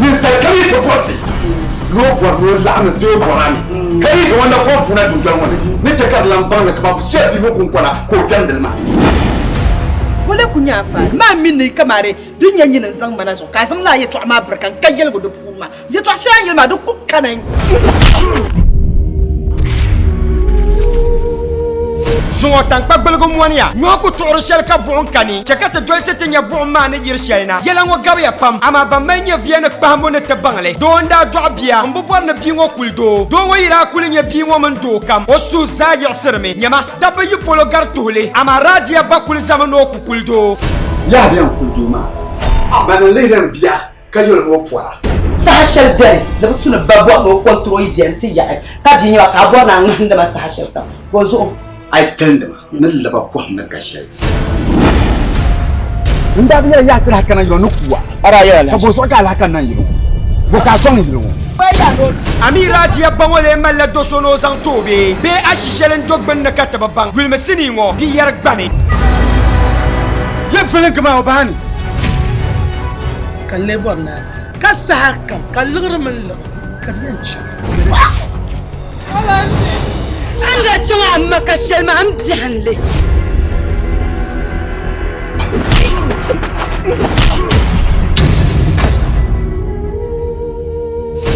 Ninsal kam yi ti bɔrisi ni o bɔri ni o laɣim n-ti o bɔra ni, ka yi zaŋ o na kɔŋ vuuna dundoli ŋɔ ni, ni chɛ ka di lan baŋ ni kaman bɛ soya piibu kuŋkɔna ka o jɛmdi li maa. Ŋɔ la ku nyɛ a faali maa mini ni yi kamari din nyɛ nyini n-zaŋ ma na zuɣu, ka a zaŋ lala yɛtɔɣa maa birika n-ka yɛligu di puuni maa. Yɛtɔɣ shɛli a ni yɛli maa di ku kami. Zuŋɔ taŋkpa gbaligu mɔniya. Nyɔhi ku tuɣiri shɛli ka buɣim kani, chɛ ka ti dolsi ti nya buɣim maa ni yiri shɛli na. Yɛla ŋɔ gabiya pam, amaa ban mali nyɛviya ni kpahimbu ni ti baŋ li. Doo n-daa dɔɣi bia, m bi bɔri ni bia ŋɔ kuli doo. Doo ŋɔ yi daa kuli nya bia ŋɔ mini doo kam, o suhu zaa yiɣisirimi. Nyama, dabba yi polo gari tuhi li, amaa Radiya ba kuli zami ni o ku kuli doo. Yaha bɛn kuli doo maa, bɛ ni lihiri n bia. ka yoli ni o pɔra. Saha shɛli beni di bi tu ni ba bɔri ni o kɔntiri o yi beni ti yaɣi ka bia nyɛba ka a bɔri ni a ŋmahindi ma saha shɛli kam ka o zuɣu. A yi talindi ma ni laba pɔhim ni ka shɛli. N daa bi yɛli yaɣi ti lahi kana yili ŋɔ ni kuwa ka bo zuɣu ka a lahi kani na yili ŋɔ? Bo ka a sɔŋ yili ŋɔ? Amira diya ba ŋɔ lee malila do so ni o zaŋ ti o bee? Bee ashi shɛli n-do gbunni ka ti bi baŋ? Yulimi sinii ŋɔ biyɛri gbani. Di vilingi maa o baa ni. ka n lee bɔri ni a bahi. Ka saha kam ka liɣiri mini liɣiri ka di yɛn chaŋ. A ni daa chaŋ a ma ka shɛli maa m biɛhinnli.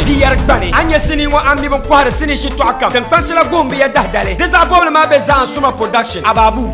Di yɛri gbani, a nya sinii ŋɔ a mi bi kɔhiri sinii shitɔɣu kam. Tiŋkpansila goon bi ya dahi dali. Di zaɣ bɔbili maa be Zaan'Suma Production, Ababu.